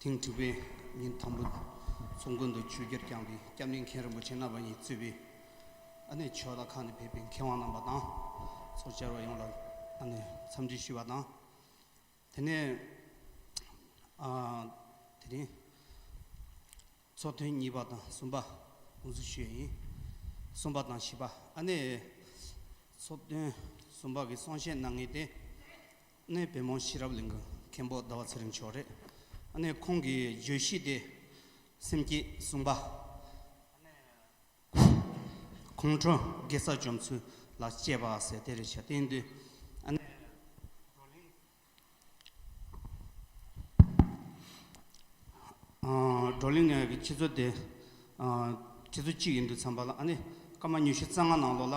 ཐེངས་དྲུག་པའི་ཉིན་དང་པོ་ཚོ་མགོན་དུ་ཆོས་རྒྱལ་བསྐྱངས་ཏེ་སྐྱབས་གནས་མཁན་རིན་པོ་ཆེ་རྣམ་པ་གཉིས་གཙོས་པའི་ཨ་ནེ་ཕྱོགས་མཐའ་ཁག་ནས་ཕེབས་པའི་མཁས་དབང་རྣམ་པ་དང་ཚོགས་བཅར་བ་ཡོངས་ལ་ཨ་ནེ་འཚམས་འདྲི་ཞུས་པ་དང། དེ་ནས་དེ་རིང་ཚོགས་ཐུན་གཉིས་པ་དང་གསུམ་པ་དགོངས་ཚུལ་ཞུ་ཡས་ཡིན། གསུམ་པ་དང་བཞི་པ་ཨ་ནེའི་ཚོགས་ཐུན་གསུམ་པ་གི་གསུང་བཤད་གནང་ངེས་ཏེ། གནས་བེམ་མོ་ཤེས་རབ་གླིང་གི་མཁན་པོ་ཟླ་བ་ཚེ་རིང་མཆོག་རེད། གནས་ཁོང་གིས་བརྗོད་གཞི་དེ་སེམས་བསྐྱེད་གསུངས་པ། གནས་ཁོང་གྲོང་དགེ་ས་བཅོམ་ཚུལ་ལ་དཔྱད་པ་ཟེར་དེ་རེད་བྱ་བསྟན་དུས་གནས་བགྲོ་གླེང་བགྲོ་གླེང་ནས་ཁྱེད་ཚོ་དེ་ཁྱེད་ཚོ་གཅིག་ཡིན་དུས་འཚམས་པ་ལ་གནས་སྐར་མ་ཉུ་ཤུ་རྩ་ལྔ་ནང་ལོགས་ལ།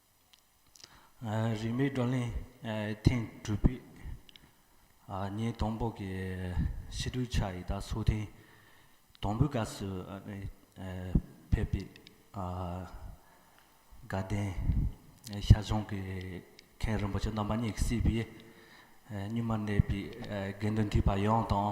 རིས་མེད་བགྲོ་གླེང་ཐེངས་དྲུག་པའི་ཉིན་དང་པོ་གི་ཕྱི་དྲོའི་ཆར་ཡི་དྭགས་སོགས་ཐེངས་དང་པོའི་སྐབས་སུ་ཕེབས་པའི་དགའ་ལྡན་ཤ་ཆང་གི་མཁན་རིན་པོ་ཆེ་རྣམ་པ་གཉིས་ཀྱིས་སྲིད་པའི་གཉུག་མར་གནས་པའི་དགེ་འདུན་ཐེག་པ་ཡོངས་དང་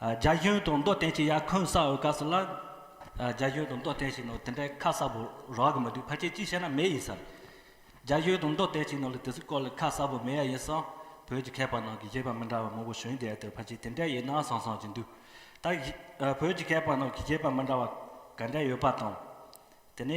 རྒྱ་གཞུང་དང་མདོ་བསྟན་གྱི་ཡར་འཁོན་བསགས་འོས་སྐབས་སུ་ལ། རྒྱ་གཞུང་དང་མདོ་བསྟན་གྱི་ནང་དེ་འདྲའི་ཁ་གསབ་པོ་རག་གི་མི་འདུག་ཕལ་ཆེར་ཅི་བཤད་ན་མེད་ཡིན་ཟེར། རྒྱ་གཞུང་དང་མདོ་བསྟན་གྱི་ནང་ལ་དེ་ཚོའི་སྐོར་ལ་ཁ་གསབ་པོ་མེད་ཡ་ཡིན་སང། བོད་ཀྱི་མཁས་པ་ནང་གི་གཞས་པ་མི་འདྲ་བ་མང་པོ་བྱོན་རྒྱལ་དུ་ཕལ་ཆེར་དེ་འདྲའི་ཡིག་སྣང་སང་སང་ཅིག་འདུག་ད། བོད་ཀྱི་མཁས་པ་ནང་གི་གཞས་པ་མི་འདྲ་བ་ག་འདྲ་ཡོད་པ་དང། དེ་ནས།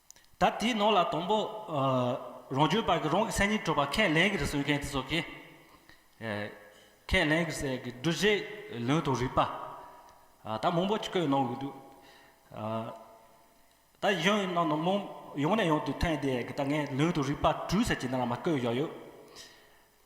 ད་དེའི་ནང་ལ་དང་པོ། རང་བྱོན་བར་གྱི་རང་གི་སེམས་ཉིད་སྤྲོས་པ་ཁས་ལེན་གྱིས་རུ་གསུངས་མཁན་དེ་ཚོ་གི། ཁས་ལེན་གྱི་སའི་གི་འདུ་བྱེད་ལུང་དང་རིགས་པ། ད་མང་པོ་བཀོད་གནང་གི་འདུག། ད་ཡིག་ཆུང་ནང་ནང་མང་ཡང་ནས་ཡང་དུ་ཐོན་དེ་གི་ད་ངས་ལུང་དང་རིགས་པ་བྲུས་ཟེར་གྱི་འདི་ན་མ་བཀོད་བཞག་ཡོད།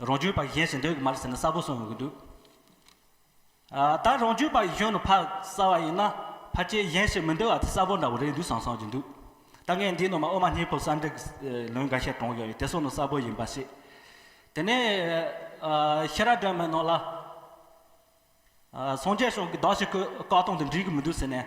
རང་རྒྱུད་པ་གཞན་ཞིག་འདོད་གི་མ་རེད་ཟེར་ན་གསལ་པོ་གསུང་ཡོང་གི་འདུག་ད་རང་རྒྱུད་པ་གཞོན་ནུ་ཕག་གསར་བ་ཡིན་ན་ཕ་སྐྱེས་གཞན་ཞིག་མི་འདོད་བ་དེ་གསལ་པོ་འདྲ་བོ་རེད་འདུག་བསམ་བསམ་གྱི་འདུག་ད་ངས་འདིའི་ནང་མ་ཨོ་མ་སྙིང་པོ་གསར་འགྲིག་ལུང་འགའ་ཤས་དྲངས་ཡོང་ཡོད་དེ་གསུང་ནི་གསལ་པོ་ཡིན་པ་ཤེས། དེ་ནས་ཤེས་རབ་སྒྲོན་མའི་ནང་ལ། སངས་རྒྱས་ཞིང་གི་བདག་ཞིག་གིས་བཀའ་གཏོང་དུ་འགྲིག་གི་མི་འདུག་ཟེར་ནས།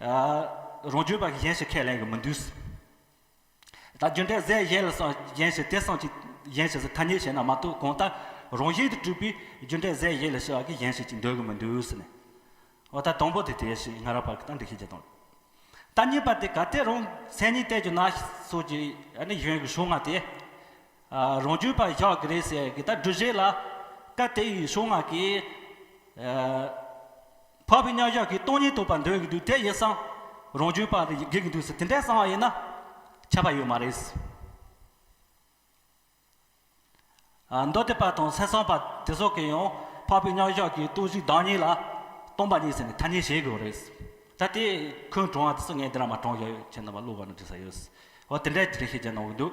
རང་རྒྱུད་པ་གཞན་ཞིག་ཁས་ལེན་གི་མི་འདུག། ད་རྒྱུ་འབྲས་ཟད་གཞན་ལ་སོང་གཞན་ཞིག་དེ་སོང་གཞན་ཞིག་ཐ་སྙད་བྱས་ན་མ་གཏོགས་གང་ལྟར་རང་བཞིན་དུ་གྲུབ་པའི་རྒྱུ་འབྲས་ཟད་གཞན་ལ་ཞེས་བ་གི་གཞན་ཞིག་ཅིག་འདོད་གི་མི་འདུག་ཟེར་ནས། འོ་ད་དང་པོ་དེ་དེ་ཞེས་ང་རང་བར་གཏམ་འདི་ཤེས་ཀྱི་དང། ད་གཉིས་པ་དེ་ག་དེ་རང་མཚན་ཉིད་གཏད་རྒྱུ་ན་སོགས་ཀྱི་ནི་གཞོན་གྱི་ཤོག་སྔགས་དེ། རང་རྒྱུད་པ་བཞག་གི་རེད་ཟེར་གི་ད་སྒྲུབ་བྱེད་ལ་སྐབས་དེའི་ཡི་ཤོག་སྔགས་ཀྱི། འཕགས་པའི་གཉགས་ཞག་གི་སྟོང་ཉིད་ཐོབ་པར་འདོད་ཀྱི་འདུག་དེ་ཡིན་སང་རང་བྱོན་པ་དེ་དགེ་གི་འདུག་ཟེར་དེ་འདྲའི་གསང་བ་ཡིན་ན་ཁྱབ་པ་ཡོད་མ་རེད། མདོ་སྡེ་པ་དང་གསེར་སྲང་པ་དེ་སོགས་ཀྱིས་ཡང་འཕགས་པའི་གཉགས་ཞག་གི་སྟོང་གཞི་བདག་ཉིད་ལ་སྟོང་པ་ཉིད་ཟེར་ནས་ཐ་སྙད་བྱེད་དགོས་རེད། ད་དེ་ཁོའི་དྲང་བ་དེ་སང་ངས་འདི་ར་མ་དྲང་ཡོད་ཁྱེད་རྣམས་པ་བློ་བ་ན་དྲིས་ས་ཡོད། འོ་དེ་འདྲའི་དྲིས་ཤིག་ཅེས་གནང་གི་འདུག།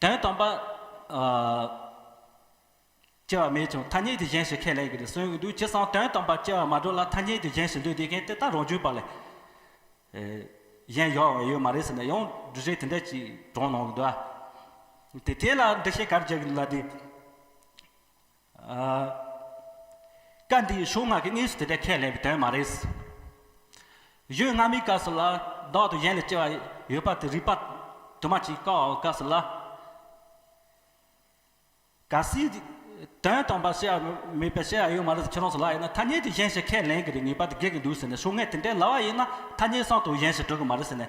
དོན་སྟོང་པ། སྐྱེ་བ་མེད་ཀྱང་ཐ་སྙད་དེ་གཞན་ཞིག་ཁས་ལེན་གྱི་རེད་གསུངས་ཡོད་འདུག་ཇི་སྲང་དོན་སྟོང་པ་སྐྱེ་བ་མ་གྲུབ་ལ་ཐ་སྙད་དེ་གཞན་ཞིག་འདོད་དེ་མཁན་དེ་ད་རང་བྱུང་བ་ལས་གཞན་ཡོད་འོང་ཡོད་མ་རེད་ཟེར་ན་ཡང་འབྲུ་བཞི་དེ་འདྲ་ཅིག་གྲོངས་གནང་གི་འདུག་ཨ། དེ་དེ་ལ་འགྲེལ་བཤད་ག་རེ་རྒྱག་གི་འདུག་ལ་དེ། བཀའ་འདི་ཡི་གཞུང་སྔགས་ཀྱི་གནས་སུ་དེ་འདྲའི་ཁས་ལེན་པའི་དོན་མ་རེད། གཞུང་སྔ་མའི་སྐབས་སུ་ལ་བདག་དང་གཞན་ལ་སྐྱེ་བ་ཡོད་པ་དེ་རིགས་པ་དུ་མ་གཅིག་བཀག་འོག་སྐབས་སུ་ལ་ག་སའི་དོན་དམ་པར་བཤད་པ་མེད་པའི་བཤད་ཡོད་མ་རེད་ཁྱེད་རང་ཚོ་ལ་ཡིན་ན་ཐ་སྙད་དེ་གཞན་ཞིག་ཁས་ལེན་གྱི་རེད་ངེས་པ་དེ་དགོས་ཀྱི་འདུག་ཟེར་ནས་གཞུང་སྔས་དེ་འདྲའི་ལ་བ་ཡིན་ན་ཐ་སྙད་སྲང་དང་གཞན་ཞིག་འགྲོ་གི་མ་རེད་ཟེར་ནས་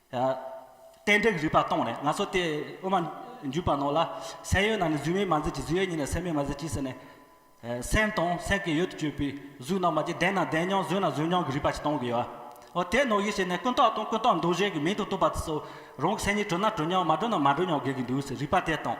གཏན་འབྲེལ་གྱི་རིགས་པ་སྟོང་ནས་ང་ཚོ་དེ་དབུ་མ་འཇུག་པ་ནོར་ལ། སེམས་ཡོད་ན་ནི་གཟུགས་མེད་མ་མཛད་ཀྱི་གཟུགས་ཡོད་ཉིད་ལ་སེམས་མེད་མ་མཛད་ཀྱི་ཟེར་ནས། སེམས་དང་སེམས་ཀྱི་ཡུལ་དུ་གྱུར་པའི་གཟུགས་རྣམས་མ་སྐྱེས་བདེན་ན་བདེན་མྱོང་བཟོད་ན་བཟོད་མྱོང་གི་རིགས་པ་ཞིག་སྟོང་གི་ཡོད། འོ་དེས་ནོར་གྱི་ཞེས་ནས་ཀུན་རྟོག་དང་ཀུན་རྟོག་འདུ་བྱེད་ཀྱི་མིང་དུ་བཏུབ་པ་དེ་ཚོ། རང་གི་སེམས་ཉིད་གྲོལ་ན་གྲོལ་མྱོང་མ་གྲོལ་ན་མ་གྲོལ་མྱོང་དགོས་ཀྱི་འདུག་ཟེར་རིགས་པ་དེ་སྟོང།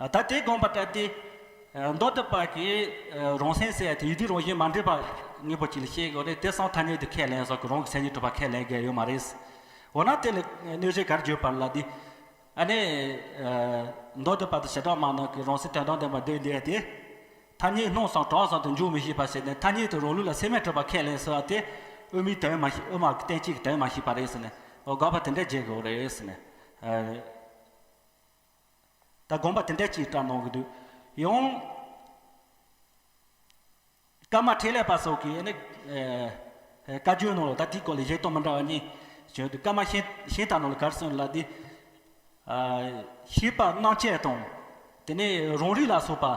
ད་དེ་དགོངས་པ་ལྟར་ཏེ། མདོ་སྡེ་པ་གིས་རང་སེམས་གསལ་ཡང་དེ་ཡི་དུས་རང་བཞིན་མ་འདྲེས་པ་ངེས་པར་གྱིས་ལ་ཤེས་དགོས་ཏེ་དེ་སང་ཐ་སྙད་དུ་ཁས་ལེན་སོགས་ཀྱི་རང་གི་སེམས་ཉིད་གྲུབ་པ་ཁས་ལེན་དགོས་ཡོད་མ་རེད། འོ་ན་དེ་ལ་གནོད་བྱེད་གར་བརྗོད་པ་ལ་འདི། ཨ་ནི། མདོ་སྡེ་པ་དང་བྱེ་བྲག་མང་རྣམས་ཀྱིས་རང་སེམས་དོན་དང་ལྡན་པར་འདོད་འདོད་དེ། ཐ་སྙད་སྣང་བཟང་གྲགས་བཟང་དུ་འཇུག་མི་ཤེས་པ་ཞིག་ནི་ཐ་སྙད་དུ་རང་ལུགས་ལ་སེམས་མེད་གྲུབ་པ་ཁས་ལེན་ཟེར་བ་དེ། དབུ་མའི་དོན་མ་ཤེས་དབུ་མ་གི་གཏན་ཚིགས་ཀྱི་དོན་མ་ཤེས་པ་རེད་ཟེར་ནས་དགག་པ་དེ་འདྲ་བརྗེད་དགོས་རེད། ད་དགོངས་པ་དེ་འད་ཅིག་བཀྲ་གནང་གི་འདུག་ཡང། ཀརྨ་འཕྲིན་ལས་པ་སོགས་ཀྱིས་ནི། བཀའ་བརྒྱུད་ནང་ལ་ད་དེའི་སྐོར་ལ་བཞེད་དོན་མི་འདྲ་བ་གཉིས། བྱུང་འདུག་ཀརྨ་ཤིང་ཤིང་རྟ་ནང་ལ་གར་སོན་ལ་དེ། ཤེས་པ་སྣང་བཅས་དང། དེ་ནས་རང་རིགས་ལ་སོགས་པ།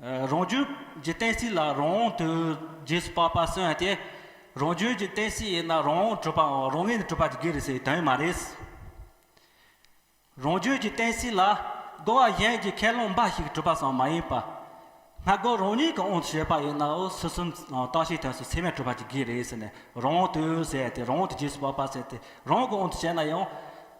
རང་རྒྱུད་ཀྱི་གཏན་སྲིད་ལ་རང་དབང་དོན་རྗེས་སུ་དཔག་པ་སོན་ཡང་དེ་རང་རྒྱུད་ཀྱི་གཏན་སྲིད་ཡིན་ན་རང་དབང་གྲུབ་པའམ་རང་ངོས་ནས་གྲུབ་པ་དེ་དགེ་རེད་ཟེར་བའི་དོན་མ་རེད། རང་རྒྱུད་ཀྱི་གཏན་སྲིད་ལ་རྒོལ་བ་གཞན་གྱི་ཁས་བླངས་འབའ་ཞིག་གྲུབ་པ་ཙམ་མ་ཡིན་པར། སྔ་རྒོལ་རང་ཉིད་ཀྱི་དབང་དུ་བྱས་པ་ཡིན་ནའོ་སུ་གསུམ་རྟགས་ཤེས་དོན་སོགས་ཚད་མས་གྲུབ་པ་དེ་དགེ་རེད་ཟེར་ནས་རང་དབང་དོན་ཟེར་ཡང་དེ་རང་དབང་དོན་རྗེས་སུ་དཔག་པ་ཟེར་ཏེ་རང་གི་དབང་དུ་བྱས་ན་ཡང་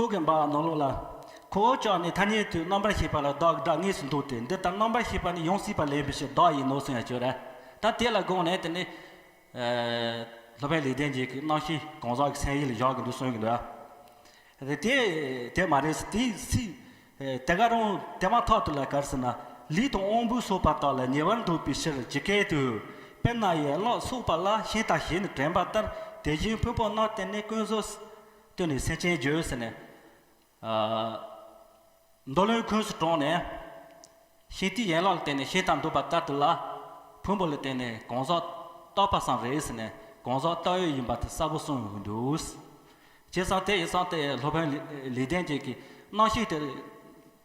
རྟོག་གེ་འབའ་བ་ནོར་ལོག་ལ། ཁོ་བོ་ཅག་ནི་ཐ་སྙད་དུ་རྣམ་པར་ཤེས་པ་ལ་བདག་གི་སྒྲ་ངེས་སུ་འདོད་དེ་འདི་ལྟར་རྣམ་པར་ཤེས་པ་ནི་ཡོངས་སྲིད་པ་ལེན་པའི་ཕྱིར་བདག་ཡིན་ནོ་གསུང་ཡང་བྱོས། ད་དེ་ལ་དགོངས་ནས་དེ་ནི། སློབ་དཔོན་ལེགས་ལྡན་འབྱེད་ཀྱི་རྣམ་ཤེས་གང་ཟག་གི་མཚན་ཡིད་ལ་བཞག་གི་འདུག་གསུང་གི་འདུག་ཨ། དེ་དེ་མ་རེད། དེ་སྲིད། དེ་ག་རུང་དེ་མ་ཐག་ཏུ་ལ་གར་ཟེར་ན། ལུས་དང་དབང་པོའི་སོགས་པ་དག་ལ་ཉེ་བར་འདོད་པའི་ཕྱིར་ཇི་སྐད་དུ། དཔེར་ན་ཡན་ལག་སོགས་པ་ལ་ཤིང་རྟ་ཞེས་ནི་དྲན་པ་ལྟར་དེ་བཞིན་ཕུང་པོ་སྣང་བརྟེན་ནས་ཀུན་རྫོབ། སྟོན་ནས་སེམས་ཅན་བསྒྱུར་ཟེར་ནས། མདོ་བློན་ཁོས་སུ་དྲོངས་ནས། ཤིང་རྟའི་ཡན་ལག་ལ་བརྟེན་ནས་ཤིང་རྟ་འདུག་པ་ལྟར་དུ་ལ། ཕུང་པོ་ལ་བརྟེན་ནས་གང་ཟག་རྟག་པ་སམ་རེད་ཟེར་ནས་གང་ཟག་རྟག་ཡོད་ཡིན་པ་དེ་གསལ་པོ་གསུངས་ཡོང་གི་འདུག། རྗེ་ས་ཏེ་ཡི་སངས་རྟའི་སློབ་དཔོན་ལེགས་ལྡན་འབྱེད་ཀྱིས་སྣང་བཤིག་དེར།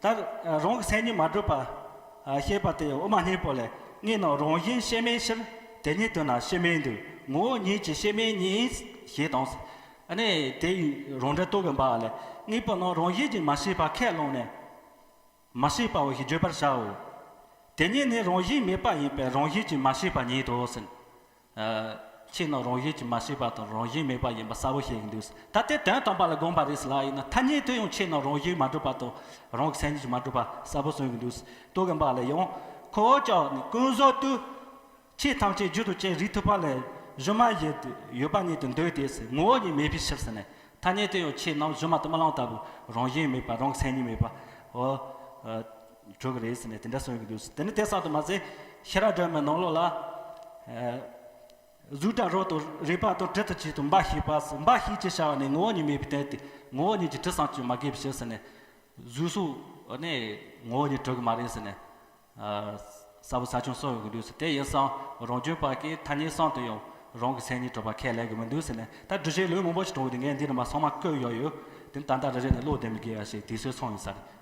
ལྟར། རང་གི་སེམས་ཉིད་མ་གྲུབ་པ། ཞེས་པ་དེ་དབུ་མ་སྙིང་པོ་ལས་ངེས་ནོ་རང་བཞིན་གཤེགས་མའི་ཕྱིར་དེ་ཉིད་དུ་ན་གཤེགས་མའི་འདུས་ངོ་བོ་ཉིད་ཀྱི་གཤེགས་མའི་ཉིད་ཞེས་དང། ནས་དེ་ཡི་རང་འགྲེལ་རྟོག་གེ་འབའ་ལས་དངོས་པོ་རྣམས་རང་བཞིན་གྱིས་མ་ཤེས་པ་ཁས་བླངས་ནས། མ་ཤེས་པའོ་ཞེས་བརྗོད་པར་བྱའོ། དེ་ཉིད་ནི་རང་བཞིན་མེད་པ་ཡིན་པས་རང་བཞིན་གྱིས་མ་ཤེས་པ་ཉིད་དོ་ཟེར། ཁྱེད་ནི་རང་བཞིན་གྱིས་མ་ཤེས་པ་དང་རང་བཞིན་མེད་པ་ཡིན་པ་གསལ་བོ་ཤེས་ཀྱི་འདུག་ད་དེ་དོན་དམ་པ་ལ་དགོངས་པ་རེད་ལ་ཡིན་ན་ཐ་སྙད་དུ་ཡང་ཁྱེད་ནི་རང་བཞིན་མ་གྲུབ་པ་དང་རང་གི་སེམས་ཉིད་ཀྱིས་མ་གྲུབ་པ་གསལ་བོ་གསུངས་ཀྱི་འདུག་ལྟོ་གོན་པ་ལ་ཡང། ཁོ་བོ་ཅག་ནི་ཀུན་བཟོད་དུ། ཆོས་ཐམས་ཅད་རྒྱུ་དང་རྐྱེན་རིགས་ཐོབ་པ་ལས་གཞི་མ་བཞི་དུ་ཡོད་པ་ཉིད་དུ་འདོད་དེ། ངོ་བོ་ཉིད་མེད་པའི་ཕྱིར་ཟེར་ནས་ཐ་སྙད་དུ་ཡང་ཁྱེད་རྣམས་གཞི་མ་དུ་མ་ལངས་ལྟ་བུ་རང་བཞིན་མེད་པ་རང་གི་སེམས་ཉིད་མེད་པའོ། གྲོལ་གི་རེད་ཟེར་ནས་དེ་འདྲ་གསུངས་ཡོད་ཀྱི་འདུག་དེ་ནི་དེང་སང་དུ་མ་ཟད་ཤེས་རབ་སྒྲོན་མའི་ནང་ལོགས་ལ། གཟུགས་དང་རོ་དང་རེག་པ་དང་དྲི་དང་ཆོས་དང་འབའ་ཞིག་པ་ཟེར་འབའ་ཞིག་ཅེས་བྱ་བ་ནི་ངོ་བོ་ཉིད་མེད་པའི་རྟེན་ཏེ་ངོ་བོ་ཉིད་ཀྱི་དྲི་བཟང་ཅུང་མ་གས་པའི་ཕྱིར་ཟེར་ནས། གཟུགས་སོགས་ནི་ངོ་བོ་ཉིད་གྲོལ་གི་མ་རེད་ཟེར་ནས། གསལ་པོ་ཟ་ཆུང་གསུངས་ཡོད་ཀྱི་འདུག་དེ་ཡིན་སང་རང་བྱོན་པ་ཀའི་ཐ་སྙད་གསང་དུ་ཡང་རང་གི་མཚན་ཉིད་གྲོལ་བ་ཁས་ལེན་གྱི་མི་འདུག་ཟེར་ནས་ད་བསྒྲུབ་བྱའི་ལུང་མང་པོ་ཞིག་དྲངས་ཡོད་དེ་ངས་འདི་རིང་མ་ཚང་མ་བཀོད་ཡོད་ཡོད་དེ་ནི་ད་ལྟ་རེ་རེ་ནས་བློ་བདེ་མི་དགེ་བ་ཞིག་དུས་ཚོད་སོང་ཡོད་ས་རེད།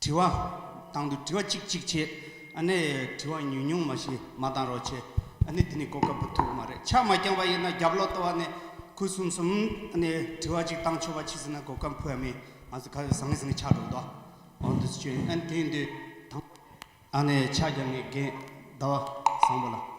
དྲི་བ། དང་དུ་དྲི་བ་གཅིག་གཅིག་བྱས། ཨ་ནེ། དྲི་བ་ཉུང་ཉུང་མ་ཞིག་མ་གཏང་རོགས་བྱས། ཨ་ནེ། དེ་ནི་གོ་སྐབས་པོ་ཐུག་མ་རེད་ཕྱག་མ་བརྐྱངས་པ་ཡིན་ན་རྒྱབ་ལོག་ལྟོ་བ་ནས་ཁུ་སུམ་སུམ། ཨ་ནེ། དྲི་བ་གཅིག་གཏང་ཆོག་པ་མཆིས་ཟིན་ན་གོ་སྐབས་ཕུལ་བ་མིན། ང་ཚོ་ག་བས་བཟང་ངན་ཟིན་ནས་ཕྱག་སྒྲོག་དོ། ཨོ་འདི་ཚོ་ཆོས་ཡིན་ཨན་དེ་འདི་དང། ཨ་ནེ། ཕྱག་རྒྱ་ངས་རྒན། ཟླ་བ། བཟང་པོ་ལ།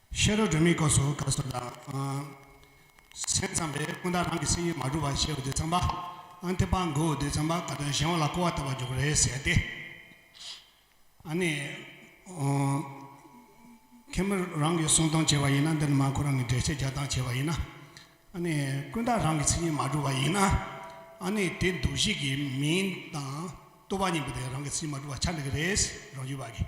ཤེས་རབ་སྒྲོན་མེའི་སྐབས་སུ་བཀའ་སྲོལ་དང། སེམས་ཙམ་པས་ཀུན་བརྟགས་རང་གི་སེམས་ཉིད་མ་གྲུབ་པར་ཤེས་བ་དེ་ཙམ་པ། ཨ་འཐས་པ་མགོ་བོ་དེ་ཙམ་པ་བཀའ་དོན་གཞན་བ་ལ་གོ་བ་ལྟ་བར་འཇོག་གི་རེད་ཟེར་ཏེ། ཨ་ནི། མཁན་པོ་རང་གིས་གསུང་སྟངས་བྱས་པ་ཡིན་ན་འདི་ནི་མ་ཁོ་རང་གིས་འགྲེལ་བཤད་རྒྱག་སྟངས་བྱས་པ་ཡིན་ན། ཨ་ནི། ཀུན་བརྟགས་རང་གི་སེམས་ཉིད་མ་གྲུབ་པ་ཡིན་ན། ཨ་ནི་དེ་འདུ་ཤེས་ཀྱི་མིང་དང་ལྟོ་བ་གཉིས་པོ་དེ་རང་གི་སེམས་ཉིད་མ་གྲུབ་པར་ཆགས་འགྲོ་གི་རེད་ཟེར་རང་ཡུལ་བ་གིས་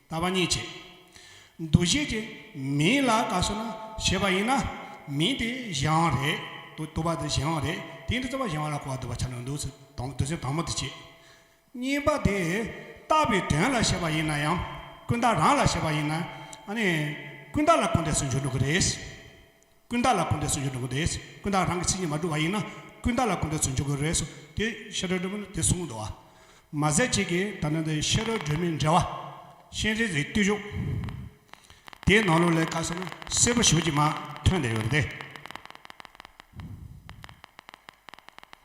ལྟ་བ་མྱི་བྱེད། འདུ་ཤེས་ཀྱིས་མི་ལ་དགའ་བསུ་ན་བྱེད་པ་ཡིན་ན། མི་དེ་གཞན་དབང་རེད། དུ་དུ་བ་དེ་གཞན་དབང་རེད། དེ་འདི་རྩ་བ་གཞན་དབང་ལ་གོ་བ་དུ་བ་ཆ་ནས་འདུག་ཚུལ་དང་དུ་སེམས་དང་མོ་དེ་བྱེད། གཉིས་པ་དེ་ལྟ་བའི་དོན་ལ་བྱེད་པ་ཡིན་ན་ཡང། ཀུན་བརྟགས་རང་ལ་བྱེད་པ་ཡིན་ན། ཨ་ནི། ཀུན་བརྟགས་ལ་ཀུན་བརྟགས་སུ་འཇོག་འགྲོ་གི་རེད། ཀུན་བརྟགས་ལ་ཀུན་འདྲེས་སུ་འཇུག་དགོས་རེད། ཀུན་བརྟགས་རང་གི་ཚིག་ཉིད་མ་གྲུབ་པ་ཡིན་ན། ཀུན་བརྟགས་ལ་ཀུན་འདྲེས་སུ་འཇུག་དགོས་རེད། དེ་ཤེས་རོལ་སྒྲོན་མེ་ནི་དེ་གསུངས་འདུག་བ། མ་ཟད་གཅིག་གིས་ད་ལྟ་འདི་ཤེས་རོལ་སྒྲོན་མེའི་འགྲེལ་བ། ཤེས་རིག་རིག་བསྟུད་བཞུགས། དེའི་ནང་ལུགས་ལས་བཀའ་སོགས་ནི་གསལ་པོ་ཞིབ་ཀྱིས་མ་ཐོན་བསྡད་ཡོད་རེད།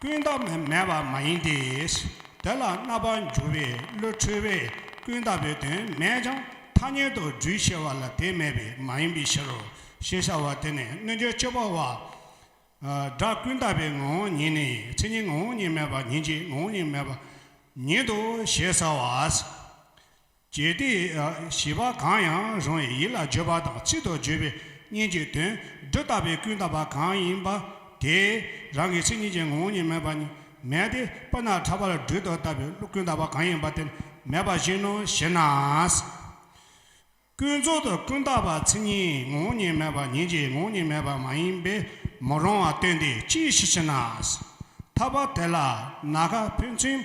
ཀུན་བཏགས་མེད་པ་མ་ཡིན་ཏེ། དེ་ལ་རྣ་བར་འགྱུར་བའི་བློས་འཁྲུལ་བས་ཀུན་བཏགས་པའི་དོན་མེད་ཀྱང་ཐ་སྙད་དུ་སྦྲུལ་ཞེས་བ་ལ་དེ་མེད་པས་མ་ཡིན་པའི་ཕྱིར་རོ་ཞེས་བྱ་བ་དེ་ནི་རྣལ་འབྱོར་སྤྱོད་པ་བ། སྒྲ་ཀུན་བཏགས་པའི་ངོ་བོ་ཉིད་ནི་མཚན་ཉིད་ངོ་བོ་ཉིད་མེད་པ་ཉིད་ཀྱི་ངོ་བོ་ཉིད་མེད་པ་ཉིད་དོ་ཞེས་བྱ་བ། བརྗོད་བདེ། ཞེས་པ་གང་ཡང་རང་ཡི་ཡིད་ལ་བརྗོད་པ་དང་ཚིག་ཏུ་བརྗོད་པའི་སྙན་བརྒྱུད་དོན་བསྡུ་བཏགས་པའི་ཀུན་བཏགས་པ་གང་ཡིན་པ་དེ་རང་གི་མཚན་ཉིད་ཀྱི་ངོ་བོ་ཉིད་མེད་པ་ཉིད་མེད་དེ་དཔེར་ན་ཕྲ་བར་སྦྲུལ་དུ་བཏགས་པའི་ཀུན་བཏགས་པ་གང་ཡིན་པ་དེ་མེད་པ་བཞིན་ནོ་ཞེ་ན། ཀུན་རྫོབ་ཏུ་ཀུན་བཏགས་པ་མཚན་ཉིད་ངོ་བོ་ཉིད་མེད་པ་ཉིད་ཀྱི་ངོ་བོ་ཉིད་མེད་པ་མ་ཡིན་པས་མི་རུང་བ་སྟོན་ཏེ་ཅི་ཞིག་ཅེ་ན། འཐབ་པ་དེ་ལ་ན་ག་ཕུན་ཚུན།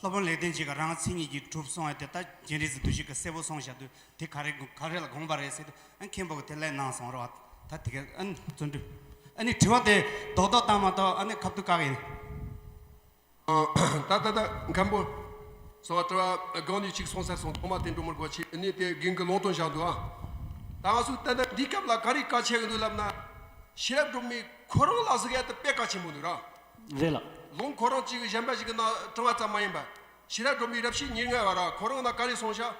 སློབ་དཔོན་ལེགས་ལྡན་འབྱེད་ཀ་རང་ང་ཚིག་གཉིས་ཀྱིས་གྲུབ་སོང་བས་དེ་ལྟ་རྒྱན་རིས་བསྡུ་བཞིག་གི་གསལ་བོ་སོང་བཞག་དུས་དེ་ག་རེ་ག་རེ་ལ་དགོངས་པ་རེད་ཟེར་དུས་ཨ་མཁན་པོ་གི་དེ་ལས་ནང་སོང་རོགས་ཨ་ད་དེ་གའི་ཨ་ནི་བརྩོན་འགྲུས་ཨ་ནི་དྲི་བ་དེ་རྡོག་རྡོག་བཏང་མ་གཏོགས་ཨ་ནི་ཁ་བསྡུ་བཀག་ཡིན། ད་ད་ད་ཨ་མཁན་པོ། སོ་བ་དྲི་བ་གང་ནས་ཅིག་སོང་ཟེར་སོང་ཐོག་མ་དེ་འགྲོ་མི་དགོས་ཕྱིས་ཨ་ནི་དེ་གིང་གི་ལོང་སྟོན་བཞག་འདུག་ཨ། ད་ང་ཚོས་ཏན་ཏན་འདིའི་སྐབས་ལ་ག་རེ་བཀའ་ཆད་ཀྱི་འདུག་ལབ་ན། ཤེས་རབ་སྒྲོན་མེས་ཁོ་རང་ལ་ཟིག་ཨ་ད་དཔེ་ག་ཆེན་པོ་འདུག་ར། རེད་ལགས། ལུང་ཁོ་རང་གཅིག་གཞན་པ་ཞིག་གི་ནང་དྲངས་བ་ཙམ་མ་ཡིན་པར། ཕྱི་རབས་སྒྲོན་མེའི་རབས་ཤིག་ཉེར་ལྔའི་བར་ཁོ་རང་ལ་ག་རེ་གསུངས་བཞག།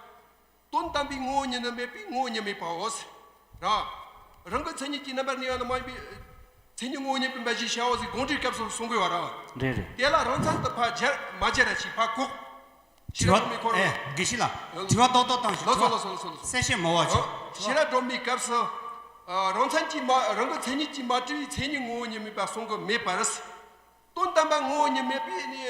དོན་དམ་པའི་ངོ་བོ་ཉིད་ནི་མེད་པས་ངོ་བོ་ཉིད་མེད་པའོ། ར། རང་གི་མཚན་ཉིད་ཀྱིས་རྣམ་པར་གནས་པ་ནི་མ་ཡིན་པས། མཚན་ཉིད་ངོ་བོ་ཉིད་མིན་པ་ཞེས་བྱའོ་ཟེར་དགོངས་འགྲེལ་སྐབས་སུ་གསུང་དགོས་བ་ར། རེད་རེད། དེ་ལ་རང་མཚན་དུ་ཕ་སྦྱར་མ་སྦྱར་ར་ཞེས་ཕ་གོ། དྲི་བ། ཨེ། དགེ་བཤེས་ལགས། དྲི་བ་ཏོག་ཏོག་བཏང་ཞིག་དྲི་བ། གསལ་བཤད་མོ་བ་བྱོས། དྲི་བ། བྱེས་ར་སྒྲོམ་མེའི་སྐབས་སུ། རང་མཚན་གྱིས་མ་རང་གི་མཚན་ཉིད་ཀྱིས་མ་བྲི་བའི་མཚན་ཉིད་ངོ་བོ་ཉིད་མེད་པ་གསུང་གི་མེད་པར། དོན་དམ་པར་ངོ་བོ་ཉིད་མེད་པས་ནི།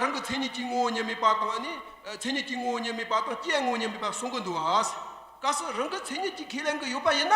རང་གི་མཚན་ཉིད་ཀྱིས་ངོ་བོ་ཉིད་མེད་པ་དང་ནི། མཚན་ཉིད་ཀྱིས་ངོ་བོ་ཉིད་མེད་པ་དང་སྐྱེའི་ངོ་བོ་ཉིད་མེད་པ་གསུང་གི་འདུག་ཨ། སྐབས་སུ་རང་གི་མཚན་ཉིད་ཀྱིས་ཁས་ལེན་གྱི་ཡོད་པ་ཡིན་ན།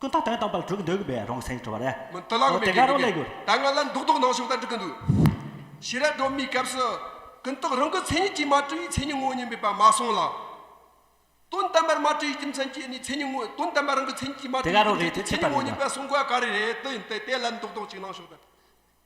ཀུན་ད་དོན་དམ་པར་གྲུག་འདུག་པས་རང་སེམས་སྤྲོ་བ་རེད། མི་དེ་ལགས་མེད་དེ་ག་རང་ལས་གུར། ད་ང་ལ་འདུག་འདུག་ནང་བྱུང་ལྟར་འགྲིག་གི་འདུག། ཕྱི་རབས་སྒྲོན་མེའི་སྐབས་སུ། ཀུན་རྟོག་རང་གི་མཚན་ཉིད་ཀྱིས་མ་སྤྲོས་ཡིག་མཚན་ཉིད་དངོས་སྙིང་པོས་པ་མ་སོང་ལ། དོན་དམ་པར་མ་སྤྲོས་ཡིག་རྒྱུ་མཚན་གྱིས་ནི་མཚན་ཉིད་དངོས་དོན་དམ་པར་རང་གི་མཚན་ཉིད་ཀྱིས་མ་དེ་སྤྲོས་ག་ཡིག་རང་རེད་རྒྱུ་དེ་མཚན་ཆད་ཉིད་པ་དངོས་རེད་ན། སྙིང་པོས་གསུངས་དགོས་ག་རེ་རེད་དེ་དེ་ལ་འདུག་འདུག་ཅིག་ནང་བྱུང་ལྟར།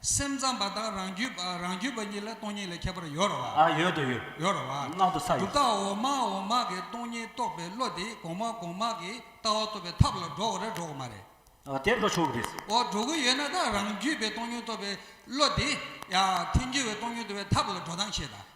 སེམས་ཙམ་པ་དང་རང་རྒྱུད་པ་རང་རྒྱུད་པ་གཉིས་ལ་སྟོང་ཉིད་ལས་ཁྱད་པར་ཡོད་རོ་བ། ཨ་ཡོད་དོ་ཡོད། ཡོད་རོ་བ། སྣང་དུ་ས་ཡོད། གྲུབ་རྟགས་འོག་མ་འོག་མ་གི་སྟོང་ཉིད་རྟོགས་པའི་བློ་དེ་གོང་མ་གོང་མ་གི་ལྟ་བ་ཐོབ་པའི་ཐབས་ལ་འགྲོ་བ་རེད་འགྲོ་གི་མ་རེད། ཨ་དེ་འགྲོ་ཆོག་གི་རེད། འོ་འགྲོ་གི་ཡོད་ན་ད་རང་རྒྱུད་པའི་སྟོང་ཉིད་རྟོགས་པའི་བློ་དེ། ཡ། ཐེངས་རྒྱུད་པའི་སྟོང་ཉིད་རྟོགས་པའི་ཐབས་ལ་འགྲོ་སྟངས་ཤེས་དང།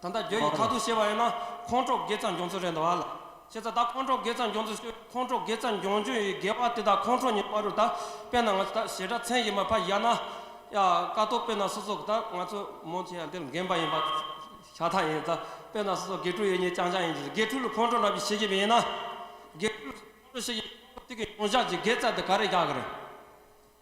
ད་ལྟ་རྒྱ་ཡིག་མཐར་ཐུག་ཤེས་པ་ཡིན་ན་ཁོང་ཁྲོ་དགེ་རྩ་འབྱུང་ཚུལ་རེད་འདུག་ཨ་ལ། ཤེས་ཚ་ད་ཁོང་ཁྲོ་དགེ་རྩ་འབྱུང་ཚུལ་ཤོད་ཁོང་ཁྲོ་དགེ་རྩ་འབྱུང་རྒྱུ་ཡི་དགེ་བ་དེ་དག་ཁོང་ཁྲོ་ཉིད་བ་རུ་ད་དཔེར་ན་ང་ཚོ་ད་ཞེ་དྲག་མཚན་ཡིན་པ་ཕ་ཡ་ན་ཡ་ཀ་ཏོ་དཔེར་ན་སོ་སོ་ད་ང་ཚོ་མོ་ཆེ་ཡ་འདིར་འགན་པ་ཡིན་པ་ཤ་ཐག་ཡིན་ད་དཔེར་ན་སོ་སོ་དགེ་ཕྲུག་ཡེ་ཉི་ཅང་ཅང་ཡིན་ཅིག་དགེ་ཕྲུག་ལ་ཁོང་ཁྲོ་རྣམས་ཀྱི་ཤེས་ཀྱི་མིན་ན་དགེ་ཕྲུག་ལ་སོ་སོ་ཁོང་ཁྲོ་ཤེས་ཀྱི་མིན་ཁོང་ཁྲོ་དེ་གི་མྱོང་བཞག་ཅིག་དགེ་རྩ་དེ་ག་རེ་རྒྱག་གི་རེད།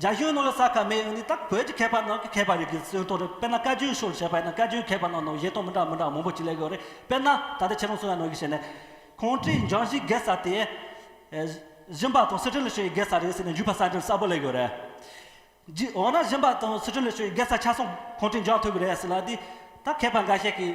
རྒྱ་གཞུང་ནང་ལ་ས་ཁ་མེད་ཡང་ནི་ད་བོད་ཀྱི་མཁས་པ་ནང་གི་མཁས་པ་རིགས་ཀྱི་སེམས་གཏོང་རེད་དཔེར་ན་བཀའ་བརྒྱུད་ཤོར་བྱས་པ་ཡིན་ན་བཀའ་བརྒྱུད་མཁས་པ་རྣམས་ནང་བཞེས་གཏོང་མི་འདྲ་མི་འདྲ་མང་པོ་ཅིག་ལས་ཡོད་རེད་དཔེར་ན་ད་ལྟ་ཁྱེད་རང་གསུང་བའི་ནང་གི་བཤད་ནས། ཁོང་ཁྲིའི་འབྱུང་བཞི་དགེ་ས་དེ། གཞན་པ་དང་སི་ཁྲོན་ལ་ཤོར་བའི་དགེ་ས་རེད་ཟེར་ནས་འཇུག་པ་གསར་འགྱུར་གསལ་པོ་ལས་ཡོད་རེད། འོ་ན་གཞན་པ་དང་སི་ཁྲོན་ལ་ཤོར་བའི་དགེ་ས་ཆ་སོང་ཁོང་ཁྲིའི་འབྱུང་བ་ཐོས་གི་རེད་ཟེར་ལ་དེ་ད་མཁས་པ་འགའ་ཤས་ཀྱིས་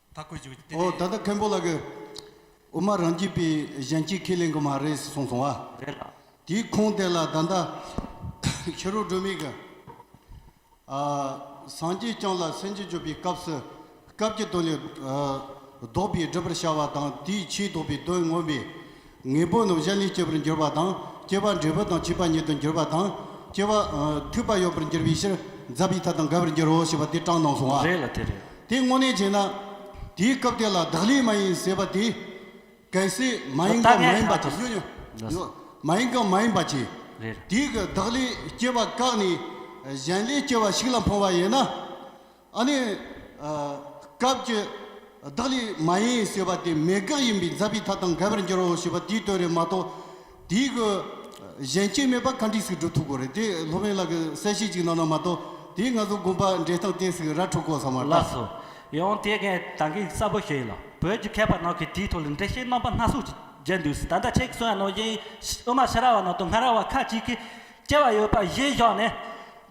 ད་ཁོས་བྱོས་ཏེ། འོ་ད་ལྟ་མཁན་པོ་ལགས་ཀྱིས། འོ་མ་རང་སྐྱིད་པའི་གཞན་སྐྱིད་ཁས་ལེན་གི་མ་རེད་གསུངས་སོང་བ། རེད་ལགས། དེའི་ཁུངས་དེ་ལ་ད་ལྟ། ཤི་རོ་སྒྲོལ་མས་གི། ཨ། སངས་རྒྱས་བསྐྱངས་ལ་སེམས་ཅན་སྤྱོད་པའི་སྐབས་སུ། སྐབས་ཀྱི་དོན་ལས། ལྡོག་པའི་སྒྲུབ་པར་བྱ་བ་དང་དེའི་ཕྱིའི་ལྡོག་པའི་དོན་མངོན་པས། ངེས་པོ་རྣམས་གཞན་ལས་སྐྱེ་བར་འགྱུར་བ་དང་སྐྱེ་བ་འབྲས་བུ་དང་བྱིས་པ་ཉིད་དུ་འགྱུར་བ་དང། སྐྱེ་བ། ཐོས་པ་ཡོད་པར་འགྱུར་བའི་ཕྱིར་འཛག་པའི་མཐའ་དང་འགལ་བར་འགྱུར་རོ་ཞེས་པ་དེ་དྲངས་གནང་སོང་བ། རེད་ལ་དེ་རེད། དེ་དངོས་གནས་བྱས་ན། དེའི་སྐབས་དེ་ལ་བདག་ལས་མ་ཡིན་ཟེར་བ་དེ། གལ་སྲིད་མ་ཡིན་གང་མ་ཡིན་པ་གྱིས། ཉོ་ཉོ། མ་ཡིན་གང་མ་ཡིན་པ་གྱིས། རེད། དེའི་བདག་ལས་སྐྱེ་བ་བཀག་ནས། གཞན་ལས་སྐྱེ་བ་ཞིག་ལ་འཕངས་བ་ཡིན་ན། ཨ་ནི། སྐབས་ཀྱི་བདག་ལས་མ་ཡིན་ཞེས་པ་དེ་མེད་དགག་ཡིན་པས་མཛའ་བའི་མཐའ་དང་འགལ་བར་འགྱུར་རོ་ཞེས་པ་དེའི་དོན་རེད་མ་གཏོགས། དེའི་གི། གཞན་རྐྱེན་མེད་པར་ག་འགྲིག་ཞིག་སྒྲུབ་ཐུབ་དགོས་རེད་དེ་ལྷོ་བན་ལགས་ཀྱིས་གསལ་བཤད་ཅིག་གནང་ན་མ་གཏོགས་དེའི་ང་ཚོ་དགོན་པ་འབྲས་ཐང་བལྟས་ཟིག་ར་འཕྲོད་གོ་བསམ་བ་ལགས་སོ། ཡང་དེ་གའི་དང་གི་གསལ་པོ་ཞུ་ཡི་ལ་བོད་ཀྱི་མཁས་པ་རྣམས་ཀྱི་དེའི་ཐོག་ལ་འགྲེལ་བཤད་རྣམ་པ་སྣ་ཚོགས་བརྒྱད་འདུག་ཟེར་ད་ལྟ་ཁྱེད་ཀྱི་གསུང་བ་ནང་བཞིན་དབུ་མ་ཕྱི་ར་བ་རྣམས་དང་སྔ་ར་བ་ཁ་ཅིག་གིས་སྐྱེ་བ་ཡོད་པ་གཞན་བཞག་ནས།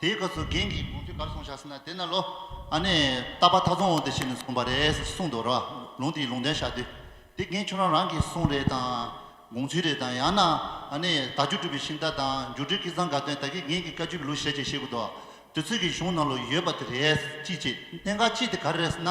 དེའི་སྐབས་སུ་རྒན་གྱིས་དགོངས་ཚུལ་གར་གསུངས་བཞག་ཟེར་ན་དེ་ན་ལོ། ཨ་ནེ། རྟ་པ་ཐག་ཚོང་འོང་དེ་བྱས་ནས་གསུངས་པ་རེད་ཟེར་གསུངས་འདུག་ར་ལུང་དེའི་ལུང་བསྟན་བཞག་དུས། དེ་རྒན་ཁྱོད་རང་རང་གིས་གསུངས་རེད་དང། དགོངས་ཚུལ་རེད་དང་ཡང་ན། ཨ་ནེ། ད་ཆུ་སྒྲུབ་པའི་ཤིང་རྟ་དང་འགྱུར་འགྲོས་ཀི་ཚང་འགའ་སྟོན་ད་གིས་རྒན་གྱི་བཀའ་བཅུ་པའི་ལུགས་བཤད་ཅེས་བཤད་དགོས་འདུག་དུས་ཚོད་ཀྱི་གཞུང་ནང་ལོ་ཡོད་པ་དེ་རེད། ཅི་བྱེད་གནད་འགག་ཅི་དེ་ག་རེ་རེད་ཟེར་ན།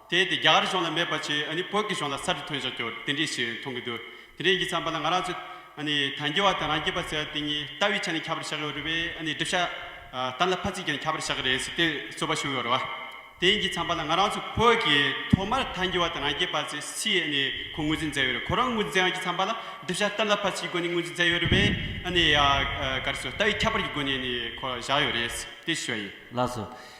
དེས་དེ་རྒྱ་གར་གཞུང་ལ་མེད་པ་བྱས་ཨ་ནི་བོད་ཀྱི་གཞུང་ལ་གསར་དུ་ཐོན་བཞག་གྱུར་དེ་འདྲའི་ཞིག་མཐོང་གི་འདུག་དེ་འདྲའི་ཡིན་གྱི་ཚང་པ་ལ་ང་རང་ཚོ་ཨ་ནི་དང་རྒྱལ་བ་དང་རང་རྒྱལ་པ་ཟེར་བ་དེ་གཉིས་ལྟ་བའི་ཆ་ནས་ཁྱབ་པར་བཞག་གི་ཡོད་རེད་བས་ཨ་ནི་སྒྲིབ་ཤ་དར་ལ་ཕ་ཚིག་ཀྱང་ཁྱབ་པར་བཞག་གི་རེད་ཟེར་དུས་རྩོད་པ་ཞུགས་ཡོད་རེད་བ། དེ་ཡིན་གྱི་ཚང་པ་ལ་ང་རང་ཚོ་བོད་ཀྱི་ཐོག་མར་དང་རྒྱལ་བ་དང་རང་རྒྱལ་པ་ཚོས་སུས་ཨ་ནི་ཁོ་ངོས་འཛིན་མཛད་ཡོད་རེད་ཁོ་རང་ངོས་འཛིན་ཡང་གྱི་ཚང་པ་ལ་སྒྲིབ་ཤ་དར་ལ་ཕ་ཚིག་གི་སྒོ་ནས་ངོས་འཛིན་མཛད་ཡོད་རེད་བས་ཨ་ནི་ཡ་གར་སོགས་ལྟ་བའི་ཁྱད་པར་གྱི་སྒོ་ནས་ནི་ཁོ་བཞག་ཡོད་རེད་ཟེར་དུས་ཞུ་བ་ཡིན། ལགས་སོ།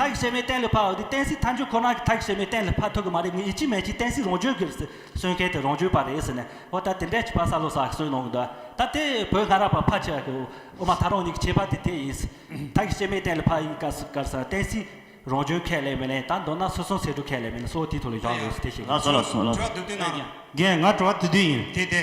མཐའ་ཞིག་བྱེ་མའི་གཏན་ལ་ཕབ་འདི་བསྟན་སྲིད་མཐའ་འཇུག་ཁོ་ན་གི་མཐའ་ཞིག་བྱེ་མའི་གཏན་ལ་ཕབ་ཐུབ་གི་མ་རེད་ངས་ཡིད་ཆེས་མེད་ཀྱིས་བསྟན་སྲིད་རང་བྱོན་གི་གསོན་མཁན་དེ་རང་བྱོན་པ་རེད་ཟེར་ནས་ཨོ་ད་དེ་འདྲས་ཀྱི་པ་ས་ལོ་ས་ཞིག་གསོན་གནང་གི་འདུག་ད་དེ་བོད་སྔ་རབས་པ་ཕ་ཆེ་བ་གི་ཨོ་མ་ད་རང་ཉིད་ཀྱི་བྱེད་པ་དེ་དེ་ཡིན་མཐའ་ཞིག་བྱེ་མའི་གཏན་ལ་ཕབ་ཡིན་ཀ་སུ་ཀར་ས་བསྟན་སྲིད་རང་བྱོན་ཁས་ལེན་མི་ལེན་ད་མདོར་ན་སོ་སོ་ཟེར་དྲུག་ཁས་ལེན་མི་ལེན་སོ་དེའི་ཐོག་ལ་ཡོང་དགོས་ཟེར་དེ་བཤད་ལ་སོ་ལ་སོ་ལ། གྲོགས་དུ་དུས་ན། རྒན་ང་གྲོགས་དུས་དུས་ཡིན་དེ་དེ།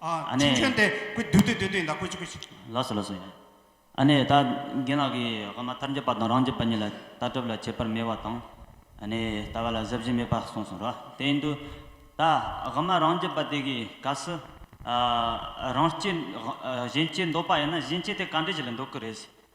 ཨ་ཁྱིམ་ཆེན་ཏེ་ཀུ་བདུད་དེ་བདུད་དེ་ཡིན་ད་ཀུ་ཅི་ཀུ་ཅི། ལགས་སོ་ལགས་སོ། ཨ་ནི་ད་རྒན་ལགས་ཀྱིས་ཧོ་མ་ཐར་འགྱོད་པ་དང་རང་འགྱོད་པ་གཉིས་ལ་ལྟ་གྲུབ་ལ་ཁྱད་པར་མེད་བ་དང། ཨ་ནི་ལྟ་བ་ལ་གཟབ་གཞི་མེད་པ་གསུངས་སོང་རོ། དེ་ཡིན་དུས། ད་ཧོ་མ་རང་འགྱོད་པ་དེ་གའི་སྐབས་སུ། རང་སྐྱེས། གཞན་སྐྱེས་འདོད་པ་ཡིན་ན་གཞན་སྐྱེས་དེ་ག་འདྲས་ཞིག་ལ་འདོད་ཀི་རེད།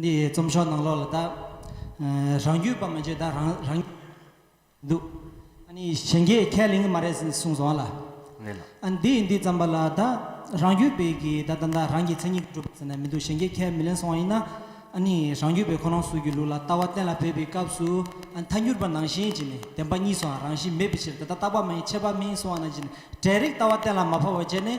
འདི་རྩོམ་ཤོག་ནང་ལོག་ལ་བལྟ། རང་རྒྱུད་པ་མ་བརྗེད་ད་རང་རང་རྒྱུད་པ་འདུག། གཞན་རྒྱས་ཁས་ལེན་གི་མ་རེད་ཟེར་གསུངས་སོང་ལ། འདི་འདི་རྩམ་པ་ལ་བལྟ། རང་རྒྱུད་པའི་གི་ད་ད་ད་རང་གི་མཚན་ཉིད་གྲུབ་ཟེར་ན་མི་འདུག་གཞན་རྒྱས་ཁས་མི་ལེན་སོང་བ་ཡིན་ན། རང་རྒྱུད་པའི་ཁོ་རང་སུ་གི་ལུགས་ལ་ལྟ་བ་གཏན་ལ་འབེབས་པའི་སྐབས་སུ། མཐའ་འགྱུར་པ་ནང་བཞིན་གྱི་ནི་བདེན་པ་གཉིས་སུའང་རང་བཞིན་མེད་པའི་ཕྱིར་ད་ལྟ་རྟག་པ་མ་ཡིན་ཆད་པ་མིན་སོང་བ་ནང་བཞིན་ནི་གྲལ་རིགས་ལྟ་བ་གཏན་ལ་མ་ཕབ་བར་བྱས་ནས།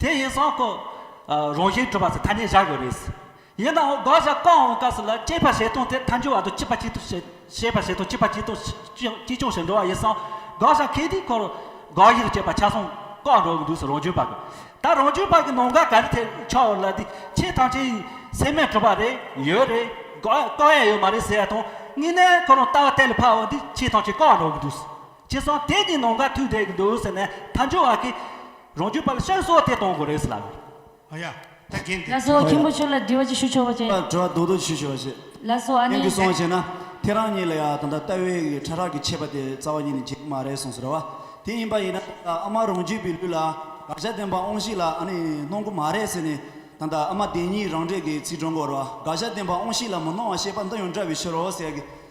དེ་ཡིན་སོང་ཁོ། རང་བཞིན་གྲུབ་པ་སོགས་ཐ་སྙད་བཞག་ཡོད་རེད། ཡིན་ནའང་དགག་བཞག་བཀག་འོང་སྐབས་སུ་ལ་དཔྱད་པ་བྱེད་སྟངས་དེ་མཐའ་འཇུག་བར་དུ་གཅིག་པ་གཅིག་ཏུ་བྱེད་བྱེད་པ་བྱེད་སྟངས་གཅིག་པ་གཅིག་ཏུ་གཅིག་ཅུང་བྱེད་འགྲོ་བ་ཡིན་སོང་དགག་བཞག་གལ་ཏེ་ཁོར། དགག་དབྱེ་རུ་བྱེད་པ་ཆ་སོང་བཀག་འགྲོ་གི་འདུག་སོང་རང་བྱུང་བར་ད་རང་བྱུང་བར་གི་ནང་འགག་ག་རེ་ཐེབས་ཆགས་འོང་ལ་དེ་ཆེས་ཐང་ཆེན་ཡིན་སེམས་མེད་གྲུབ་པ་རེད་ཡོད་རེད་དགག་བཀག་ཡ་ཡོད་མ་རེད་ཟེར་བ་དང་གཉིས་ནས་ཁོ་རང་ལྟ་བ་གཏན་ལ་ཕབ་འོང་འདི་ཆེས་ཐང་ཆེན་བཀག་འགྲོ་གི་འདུག་སོང། ཅེས་སོང་དེ་ནི་ནོངས་ཀ་ཐུག་བསྡད་ཀྱི་འདུག་ཟེར་ནས་ད་འཇུ་བ་ཀི། རང་རྒྱུད་པ་ལ་ཤར་སོགས་དེ་གཏོང་དགོས་རེད་ཟེར་ལབ། ཨ་ཡ། ད་རྒན་དེ། ལ་སོ་ཁྱིམ་པོ་ཆོས་ལ་འདྲི་བ་ཅིག་ཞུ་ཆོག་པ་ཅི། ཨ་དྲོ་རྡོག་རྡོག་ཞུ་ཆོག་པ་ཅི། ལ་སོ་ཨ་ནི། ཀྱི་སོང་ཞེ་ན། ཁྱེད་རང་གཉིས་ལ་ཡ་ད་ལྟ་ལྟ་བའི་གི་ཁྲ་ཁྲག་གི་ཆད་པ་དེ་རྩ་བ་ཉིད་ནས་འབྱེད་གི་མ་རེད་སོང་ཟེར་བ། དེ་ཡིན་པ་ཡིན་ན་ད་ལྟ་ཨ་མ་རང་རྒྱུད་པའི་ལུས་ལ་དགག་བྱ་བསྟན་པ་ཨོང་ཤིག་ལ་ཨ་ནི་གནོང་གི་མ་རེད་ཟེར་ནས་ད་ལྟ་ཨ་མ་དེ་གཉིས་རང་འདྲེས་ཀྱི་ཚིག་སྒྲོ་འགོར་བ་དགག་བྱ་བསྟན་པ་ཨོང་ཤིག་ལ་མི་གནོང་བ་ཤེས་པ་འདི་ཡང་འདྲ་བའི་ཕྱིར་རོ་ཟེར་གི།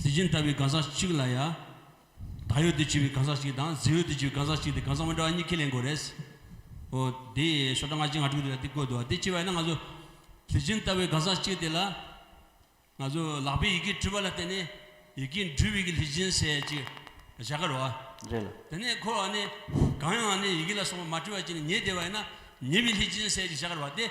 གཟི་བྱིན་ལྟ་བུའི་གང་ཟག་གཅིག་ལ་ཡང། ད་ཡོད་དུ་བྱས་པའི་གང་ཟག་གཅིག་དང་གཟི་འོད་དུ་བྱས་པའི་གང་ཟག་གཅིག་དེ་གང་ཟག་མི་འདྲ་བ་གཉིས་ཁས་ལེན་དགོས་རེད། ཨོ། དེ་ཤོག་གྲངས་ང་གཅིག་ང་དྲུག་དེ་ལ་དེ་བཀོད་འདུག་བ་དེ་ཅི་བ་ཡིན་ན་ང་ཚོ། གཟི་བྱིན་ལྟ་བུའི་གང་ཟག་གཅིག་དེ་ལ། ང་ཚོ་ལག་པས་ཡི་གེ་བྲི་བ་ལ་བརྟེན་ནས་ཡི་གེ་འབྲི་བའི་གི་ལྷས་བྱིན་ཟེར་ཅིག་བཞག་གི་རོགས་ཨ། རེད་ལ། དེ་ནས་འཁོར་བ་ནི། གང་ཡང་ནི་ཡི་གེ་ལ་སོགས་པ་མ་བྲི་བར་བྱས་ནས་ཉེས་བདེ་བ་ཡིན་ན་ཉེས་པའི་ལྷས་བྱིན་ཟེར་ཅིག་བཞག་གི་རོགས་ཨ་སྟེ།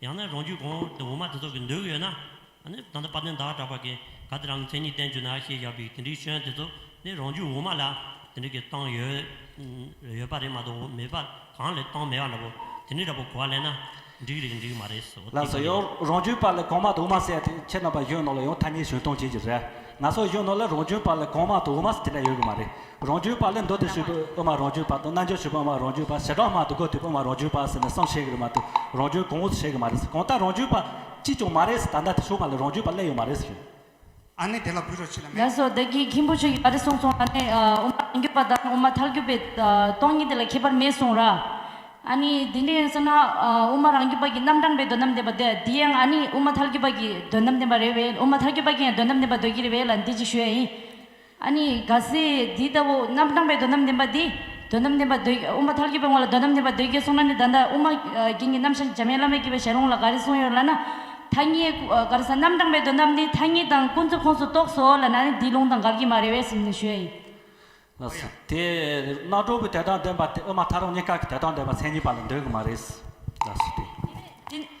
ཡང་ན་རང་རྒྱུད་གོང་དུ་འོག་མ་དེ་ཚོ་གི་འདོད་གི་ཡོད་ན། ནི་ད་ལྟ་བ་དན་དག་གྲགས་པ་གིས་ག་དེ་རང་གི་མཚན་ཉིད་བསྟན་བཅུག་ན་ཞེས་བཞག་པའི་དེ་འདྲའི་སྐྱོན་དེ་ཚོ་ནི་རང་རྒྱུད་འོག་མ་ལ་དེ་འདྲ་གི་བཏང་ཡོད། ཡོད་པ་རེད་མ་གཏོགས་མེད་པ་གང་ལས་བཏང་མེད་པ་འདྲ་པོ་དེ་འདྲའི་འདྲ་པོ་གོ་བ་ལེན་ན་འགྲིག་རེད་འགྲིག་མ་རེད་སོ་ལ་སོ་ཡང་རང་རྒྱུད་པ་ལས་གོང་མ་དུ་འོག་མ་སད་དེ་ཁྱེད་རྣམ་པ་གཞོན་ནོ་ལ་ཡང་ཐ་སྙད་བྱོན་གཏོང་བྱེད་ཀྱི་རེད་ང་སོགས་གཞོན་ནོ་ལ་རང་རྒྱུད་པ་ལས་གོང་མ་དུ་འོག་མ་སད་དེ་འདྲ་ཡོད་གི་མ་རེད་རང་རྒྱུད་པ་ལས་མདོ་སྡེ་ཞུས་པའི་དབུ་མ་རང་རྒྱུད་པ་དང་རྣལ་འབྱོར་ཞུས་པའི་དབུ་མ་རང་རྒྱུད་པ་ཞེ་དྲག་མ་དུ་གོ་ཐོས་པའི་དབུ་མ་རང་རྒྱུད་པ་ཟེར་ནས་གསུམ་བྱེད་ཀྱི་རེད་མ་དུ་རང་རྒྱུད་གོང་འོག་ཏུ་བྱེད་ཀྱི་མ་རེད་གང་ལྟར་རང་རྒྱུད་པ་གཅིག་ཀྱང་མ་རེད་ད་ལྟ་དེ་ཞུ་བ་ལ་རང་རྒྱུད་པ་གླས་ཡོད་མ་རེད་རེད། ཨ་ནི་དེ་ལ་གུས་རོགས་ཕྱི་ལ་མེད། ལགས་སོ་བདག་གིས་མཁན་པོ་ཆོས་ཀྱི་བ་རི་གསུངས་སོང་ལ་ནི་དབུ་མ་རང་རྒྱུད་པ་དང་དབུ་མ་ཐར་རྒྱུད་པའི་སྟོང་ཉིད་དེ་ལ་ཁྱད་པར་མེད་གསུངས་ར། ཨ་ནི་དེ་འདྲ་ཡིན་ཟེར་ན་དབུ་མ་རང་རྒྱུད་པ་གྱིས་རྣམ་གྲངས་པའི་དོན་དམ་བསྟན་པ་འདི་འདི་ཡང་ཨ་ནི་དབུ་མ་ཐར་རྒྱུད་པ་གྱིས་དོན་དམ་བསྟན་པ་རེད་བས་དབུ་མ་ཐར་རྒྱུད་པ་གྱིས་ཡང་དོན་དམ་བསྟན་པ་འདོད་ཀྱི་རེད་བས་ལ་འདི་ཅི་ཞུ་ཡ་ཡིན། ཨ་ནི་རྒ་ཟས་འདི་ལྟ་བུ་རྣམ་གྲངས་པའི་དོན་དམ་བདེན་པ་འདི། དོན་དམ་བདེན་པ་འདོད་དབུ་མ་མཐར་གྱུར་པའི་ངོ་ལ་དོན་དམ་བདེན་པ་འདོད་རྒྱུའི་གསུང་ན་ནི་ད་ལྟ་དབུ་མ་རྒྱན་གྱི་རྣམ་གཞག་འཇམ་དབྱངས་བླ་མས་བསྐྱེད་པའི་ཞལ་ལུང་ལ་ག་རེ་གསུངས་ཡོད་ལ་ན། ཐ་སྙད་ག་རེ་ཟ་རྣམ་གྲངས་པའི་དོན་དམ་ནི་ཐ་སྙད་དང་ཀུན་རྫོབ་ཁོངས་སུ་གཏོགས་སོ་ལ་ན་ནི་འདིའི་ལུང་དང་འགལ་གྱི་མ་རེད་བས་སེམས་ནི་ཞོལ་ཡིན། ལ་སོ། དེས་ན་གྲོགས་པོའི་དོན་དམ་བདེན་པ་དེ་དབུ་མ་ཐ་རང་གཉིས་ཀ་གི་དོན་དམ་བདེན་པ་མཚན་ཉིད་པ་ལ་འདོད་གི་མ་རེད། ལ་སོ། དེ་ནས།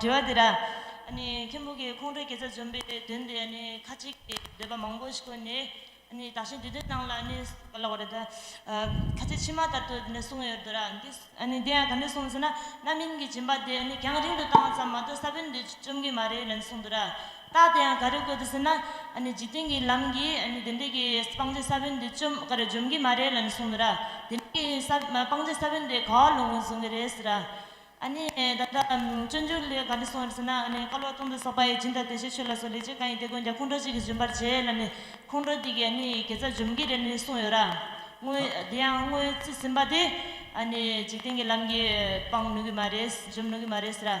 དྲི་བ། འདི་ར་མཁན་པོ་གིས་ཁོང་ཁྲོའི་དགེ་རྩ་འཇོམས་པའི་དོན་དེ་ཁ་ཅིག་གིས་འདོད་པ་མང་པོ་ཞིག་བཀོད་ནས་དག་ཞིང་དེ་དོན་སྣང་ལ་བཀོད་ལ་བ་རེད། ཁ་ཅིག་ཕྱི་མ་ལྟར་དུ་གསུངས་ཡོད་དོ་ར། དེ་ཡང་ག་ནས་གསུངས་ཟེར་ན་རྣམ་སྨིན་གྱི་སྦྱིན་པ་དེ་རྒྱང་རིང་དུ་བཏང་བ་ཙམ་མ་གཏོགས་ས་བོན་དེ་བཅོམ་གྱི་མ་རེད་ལན་གསུངས་དོ་ར། རྟགས་དེ་ཡང་ག་རེ་བཀོད་དུ་ཟེར་ན། འཇིག་རྟེན་གྱི་ལམ་གྱིས་དེ་འདྲའི་གི་སྤང་རྫས་ས་བོན་འདི་བཅོམ་ག་རེ་འཇོམས་ཀྱི་མ་རེད་ལ་ནི་གསུངས་འདུག་ར། དེ་འདྲའི་གི་ས་སྤང་རྫས་ས་བོན་དེ་ག་བ་ལུང་བཟུང་གི་རེད་ཟེར་ར། ད་ལྟ་སྤྱོད་འཇུག་ལས་ག་རེ་གསུངས་ཡོད་ཟེར་ན། བཀའ་སློབ་སྟོང་དང་སོགས་པ་ཡི་སྦྱིན་དང་དེ་བཞིན་ཆོས་ལ་སོགས་ལས་བྱེད་གང་ཡིན་དེ་ཀུན་ཀྱང་ཁོང་ཁྲོ་གཅིག་གིས་འཇོམས་པར་བྱེད་ལ་ནི་ཁོང་ཁྲོ་དེ་གིས་གེ་སར་འཇོམས་ཀྱི་རེད་ལ་ནི་གསུངས་ཡོད་ར། དངོས་དེ་ཡང་དངོས་རྩིས་ཟིན་པ་དེ། འཇིག་རྟེན་གྱི་ལམ་གྱིས་སྤང་ནུས་ཀྱི་མ་རེད་འཇོམས་ནུས་ཀྱི་མ་རེད་ཟེར་ར།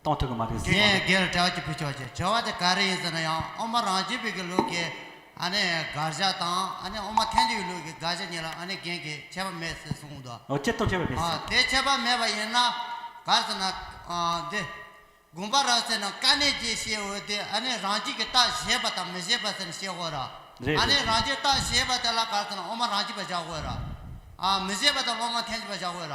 གཏོང་ཐུབ་ཀྱི་མ་རེད་ཟེར། དེ་སྒེར་གྲས་ཀྱི་བུ་ཆོས་ཀྱི་བྱ་བ་དེ་ག་རེ་ཡིན་ཟེར་ན་ཡང་ཨོ་མ་རང་རྒྱལ་བོད་ཀྱི་ལུགས་ཀྱི་ཨ་ནི་དགག་བཞག་དང་ཨ་ནི་ཨོ་མ་ཐན་ཅུའི་ལུགས་ཀྱི་དགག་བཞག་གཉིས་ལ་ཨ་ནི་རྒན་གྱིས་ཁྱད་པར་མེད་ཟེར་གསུངས་འདུག། ཨོ་ཁྱེད་ལྟོས་ཁྱད་པར་མེད་ཟེར། དེ་ཁྱད་པར་མེད་པ་ཡིན་ན་ག་རེ་ཟེར་ན། འདི། དགོངས་པ་རག་ཟེར་ན་དཀའ་གནད་རྒྱས་བཤད་འོས་དུས་ཨ་ནི་རང་རྒྱལ་གྱི་རྟགས་བཞེས་པ་དང་མི་བཞེས་པ་ཟེར་ནས་བཤད་དགོས་ར། རེད་ཨ་རེད་ནི་རང་རྒྱལ་རྟགས་བཞེས་པ་དེ་ལ་ག་རེ་ཟེར་ན་ཨོ་མ་རང་རྒྱལ་བ་བཞག་དགོས་ར། མི་བཞེས་པ་དེ་ལ་ཨོ་མ་ཐན་ཅུ་བ་བཞག་དགོས་ར།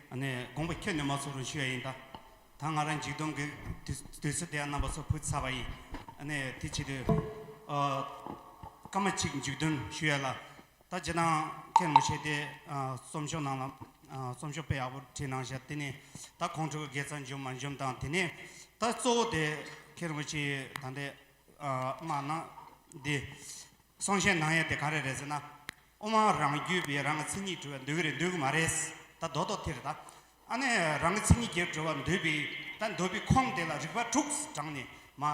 ནས་དགོངས་པ་ཁྱོད་ནི་མ་ཚོར་རུང་ཞུ་ཡ་ཡིན་ད། ད་ང་རང་འཇིག་རྡུང་གི་དུས་སུ་དེ་ཡང་རྣམ་པ་ཚོར་ཕུལ་ཚར་བ་ཡིན། ནས་དེ་ཆེད་དུ། སྐར་མ་གཅིག་འཇིག་རྡུང་ཞུ་ཡ་ལ། ད་ཇི་ལྟར་ཁེར་མི་བྱེད་དེ། རྩོམ་ཤོག་ནང་ལ། རྩོམ་ཤོག་དཔེ་ཡག་པོ་བྲིས་གནང་བཞག་དེ་ནས་ད་ཁོང་ཁྲོ་གི་དགེ་རྩ་འཇོམས་མ་འཇོམས་དང་དེ་ནས་ད་གཙོ་བོ་དེ་ཁེར་མི་བྱེད་ད་འདི། སྨྲ་ན་འདི། གསང་ཞེན་གནང་ཡ་དེ་ག་རེ་རེད་ཟེར་ན། དབུ་མ་རང་རྒྱུད་པའི་རང་གི་མཚན་ཉིད་གྲོལ་བ་འདོད་གི་རེད་འདོད་གི་མ་རེད། ད་རྡོག་རྡོག་ཐེར་ད། ཨ་ནི་རང་གི་མཚན་ཉིད་རྒྱལ་གྲོལ་བ་འདོད་པའི་ད་འདོད་པའི་ཁོངས་དེ་ལ་རིགས་པ་དྲུག་བགྲང་ནས་མ་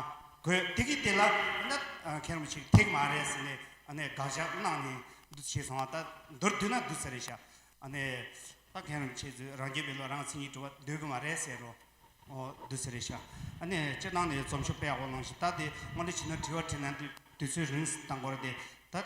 དགོས་དེ་གི་དེ་ལ་ད་ཁྱེད་རང་ཕྱིར་ཐེག་མ་རེད་ཟེར་ནས་ཨ་ནི་དགག་བཞག་གནང་ནས་འདུ་བྱེད་སོང་བ་ད་མདོར་བསྡུས་ན་བསྡུ་ས་རེད་ཤག་ཨ་ནི་ད་ཁྱེད་རང་ཁྱེད་ཚོས་རང་རྒྱུད་པའི་བློ་རང་གི་མཚན་ཉིད་གྲོལ་བ་འདོད་གི་མ་རེད་ཟེར་རོ། བསྡུ་ས་རེད་ཤག་ཨ་ནི་སྤྱིར་བཏང་ནས་རྩོམ་ཤོག་དཔེ་ཡག་པོ་གནང་ཞིག་ད་དེ་སྔོན་འགྲོ་བྱེད་ན་དྲི་བ་དྲིས་ན་དུས་ཚོད་རིང་ད་འགོར་ཏེ་ད།